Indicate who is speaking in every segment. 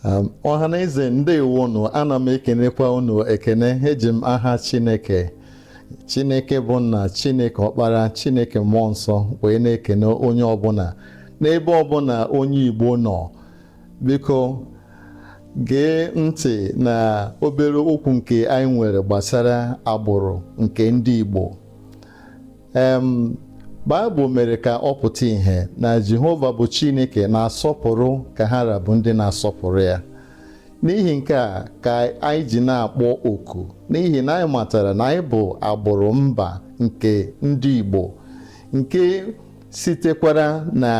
Speaker 1: Um, ọha na eze ndewo unu ana m ekenekwa unu ekene eji m aha chineke chineke bụ nna chineke ọkpara chineke mmụọ nsọ wee na-ekene onye ọbụna n'ebe ọbụna onye igbo nọ biko gee ntị na obere okwu nke anyị nwere gbasara agbụrụ nke ndị igbo Baịbụl mere ka ọ pụta ìhè na Jehova bụ Chineke na-asọpụrụ ka ha ra bụ ndị na-asọpụrụ ya n'ihi nke a ka anyị ji na-akpọ oku n'ihi na anyị matara na anyị bụ agbụrụ mba nke ndị Igbo nke sitekwara na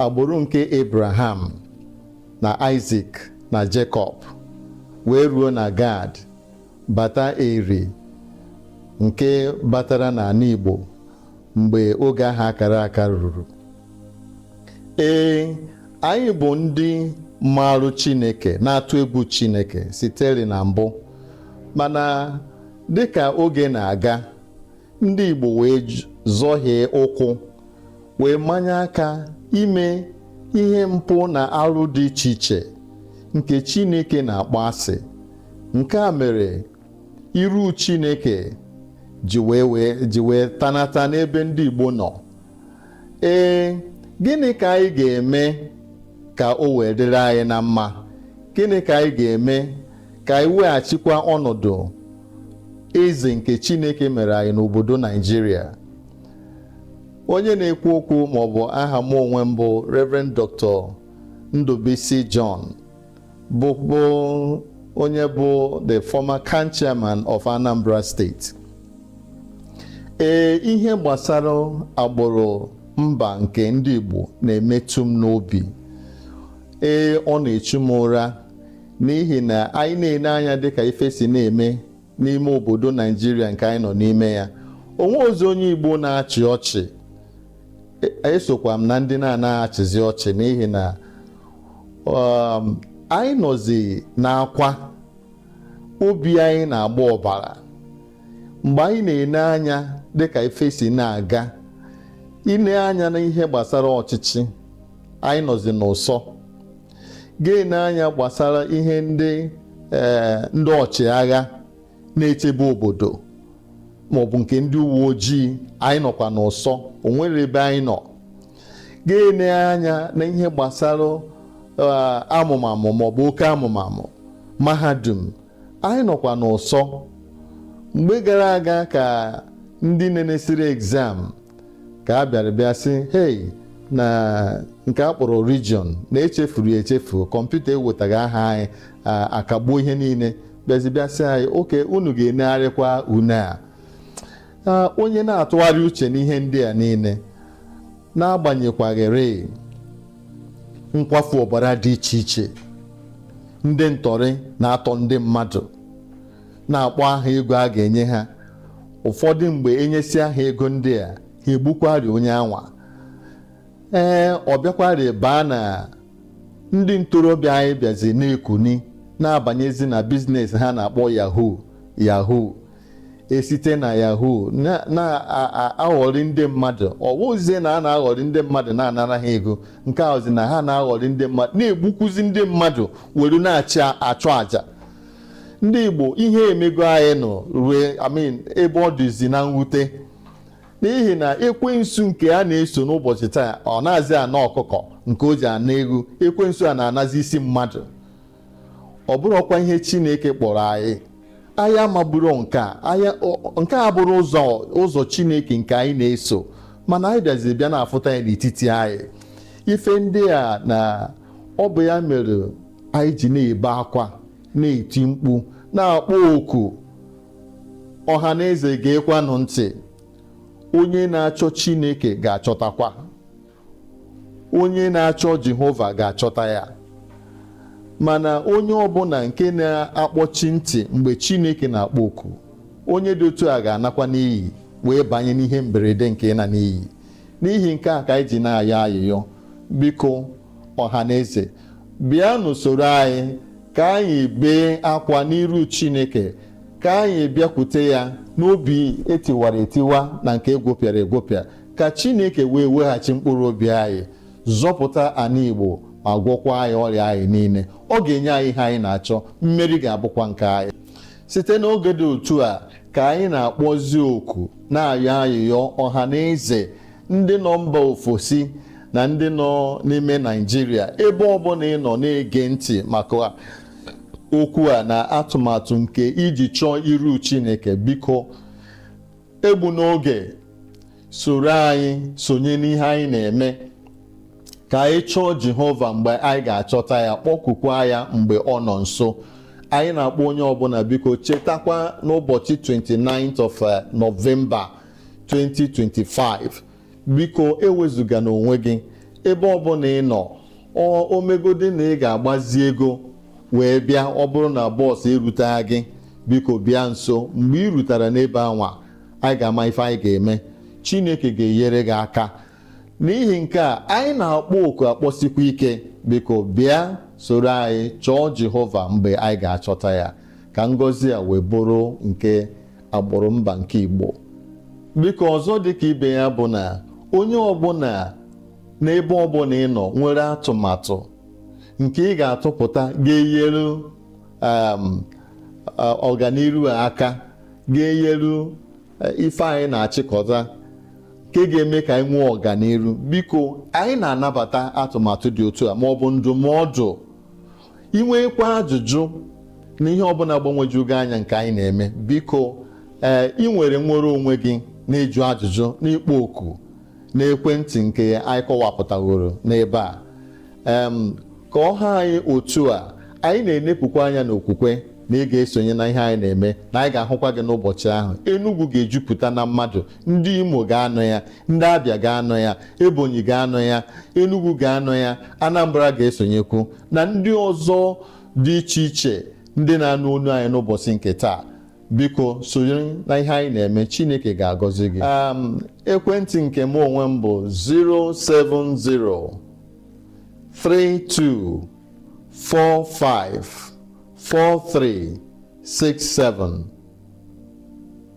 Speaker 1: agbụrụ nke Abraham na Isaac na Jacob wee ruo na Gad Bata Eri nke batara n'ana Igbo mgbe oge ahụ akara aka ruru. Ee, anyị bụ ndị maarụ Chineke na-atụ egwu Chineke siteri na mbụ mana dịka oge na-aga ndị Igbo wee zọhie ụkwụ wee manye aka ime ihe mpụ na arụ dị iche iche nke Chineke na-akpọ asị nke a mere iru Chineke ji wee tanata n'ebe ndị Igbo nọ ee gịnị ka anyị ga-eme ka o wee dịrị anyị na mma gịnị ka anyị ga-eme ka anyị weghachikwa ọnọdụ eze nke Chineke mere anyị n'obodo Naijiria onye na-ekwu okwu maọbụ aha m onwe m bụ Reverend Dr. Ndubuisi John bụ bụ onye bụ the former CAN chairman of Anambra State ee ihe gbasara agbụrụ mba nke ndị Igbo na-emetụ m n'obi ee ọ na-echu m ụra n'ihi na anyị na-ele anya dịka ife si na-eme n'ime obodo Naijiria nke anyị nọ n'ime ya o nwerọzi onye Igbo na-achị ọchị e, esokwa m na ndị na-anaghị achịzi ọchị n'ihi na um, anyị nọzi n'akwa obi anyị na-agba ọbara mgbe anyị na-ene anya dịka ife si na-aga i nee anya na ihe gbasara ọchịchị anyị nọzi n'ụsọ ga-ene anya gbasara ihe ndị ee ndị ọchịagha na-echebe obodo maọbụ nke ndị uwe ojii anyị nọkwa n'ụsọ o nwerọ ebe anyị nọ ga-ene anya na ihe gbasara eh, amụmamụ maọbụ oke amụmamụ mahadum anyị nọkwa n'ụsọ mgbe gara aga ka ndị nenesịrị exam ka a bịara bịa sị hei na nke a kpọrọ region na e chefuru ya echefu kọmputa ewetaghị aha anyị a- a kagbuo ihe niile bịazi bịa sị anyị oke unu ga-enegharịkwa une a Ah, onye na-atụgharị uche n'ihe ndị a niile n'agbanyekwaghịrị nkwafu ọbara dị iche iche ndị ntọrị na-atọ ndị mmadụ na-akpọ aha ego a ga-enye ha ụfọdụ mgbe e nyesịa ha ego ndị a ha egbukwarị onye anwa ee ọ bịakwarị baa na ndị ntorobịa anyị bịazi na-ekuni na-abanyezi na biznes ha na-akpọ yahoo yahoo e site na yahoo na-aghọrị ndị mmadụ ọ bụzie na a na-aghọrị ndị mmadụ na-anara ha ego nke a bụzi na ha na-aghọrị ndị mmadụ na-egbukwuzi ndị mmadụ were na-achị achụ àjà ndị Igbo ihe emego anyị nụ rue I mean ebe ọ dịzi na mwute n'ihi na ekwensu nke a na-eso n'ụbọchị taa ọ nazị ana ọkụkọ nke o ji ana eghu ekwensu a na-anazi isi mmadụ ọ bụrọkwa ihe Chineke kpọrọ anyị anyị amaburo nke a nke a abụrọ ụzọ ụzọ Chineke nke anyị na-eso mana anyị bịaziri bịa na-afụta ya n'etiti anyị ife ndị a na ọ bụ ya mere anyị ji na-ebe akwa na-eti mkpu na-akpọ oku ọha na eze geekwanụ ntị onye na-achọ Chineke ga-achọtakwa onye na-achọ Jehova ga-achọta ya mana onye ọbụna nke na-akpọchi ntị mgbe Chineke na-akpọ oku onye dị otu a ga-anakwa n'iyi wee banye n'ihe mberede nke ịna n'iyi n'ihi nke a ka anyị ji na-ayọ ayịyọ biko ọha na eze bịanụ soro anyị ka anyị bee akwa n'iru chineke ka anyị bịakwute ya n'obi etiwara etiwa na nke egwopịara egwopịa ka chineke wee weghachi mkpụrụ obi anyị zọpụta ana igbo ma gwọkwa anyị ọrịa anyị niile ọ ga-enye anyị ihe anyị na-achọ mmeri ga-abụkwa nke anyị site n'oge dị otu a ka anyị na-akpọzi oku na-ayọ ayịyọ ọha na eze ndị nọ mba ofesi na ndị nọ n'ime Naịjirịa ebe ọbụna ị nọ na-ege ntị maka okwu a na atụmatụ nke iji chọọ iru chineke biko egbuna oge soro anyị sonye n'ihe anyị na-eme ka anyị chọọ Jehova mgbe anyị ga-achọta ya kpọkukwa ya mgbe ọ nọ nso anyị na-akpọ onye ọbụna biko chetakwa n'ụbọchị 29th of eh, November 2025 biko ewezugana onwe gị ebe ọbụla ị nọ ọ- o megodi na ị ga-agbazi ego wee bịa ọ bụrụ na bus erutagha gị biko bịa nso mgbe ị rutara n'ebe anwa anyị ga-ama ife anyị ga-eme chineke ga-enyere gị aka n'ihi nke a anyị na-akpọ oku akpọsikwa ike biko bịa soro anyị chọọ jehova mgbe anyị ga-achọta ya ka ngọzi a wee bụrụ nke agbụrụ mba nke Igbo biko ọzọ dịka ibe ya bụ na onye ọbụla n'ebe ọbụla ị nọ nwere atụmatụ nke ị ga-atụpụta ga-enyere um, uh, ọganiru aka ga-enyere uh, ife anyị na-achịkọta nke ga-eme ka anyị nwee ọganiru biko anyị na-anabata atụmatụ dị otu a ma ọ bụ ndụmọdụ i nwekwaa ajụjụ na ihe ọbụla gbagwoju gị anya nke anyị na-eme biko ee i nwere nwere onwe gị n'ịjụ ajụjụ n'ịkpọ oku na ekwentị nke anyị kọwapụtaworo n'ebe a em ka ọ ha anyị otu a anyị na-enepukwa anya n'okwukwe na ị ga-esonye na ihe anyị na-eme na anyị ga-ahụkwa gị n'ụbọchị ahụ Enugu ga-ejupụta na mmadụ ndị Imo ga-anọ ya ndị abia ga-anọ ya ebonyi ga-anọ ya enugu ga-anọ ya anambra ga-esonyekwu na ndị ọzọ dị iche iche ndị na-anụ olu anyị n'ụbọsị nke taa biko sonyere na ihe anyị na-eme chineke ga-agọzi gị um, ekwentị nke mụ onwe m bụ 070 32 45 43 67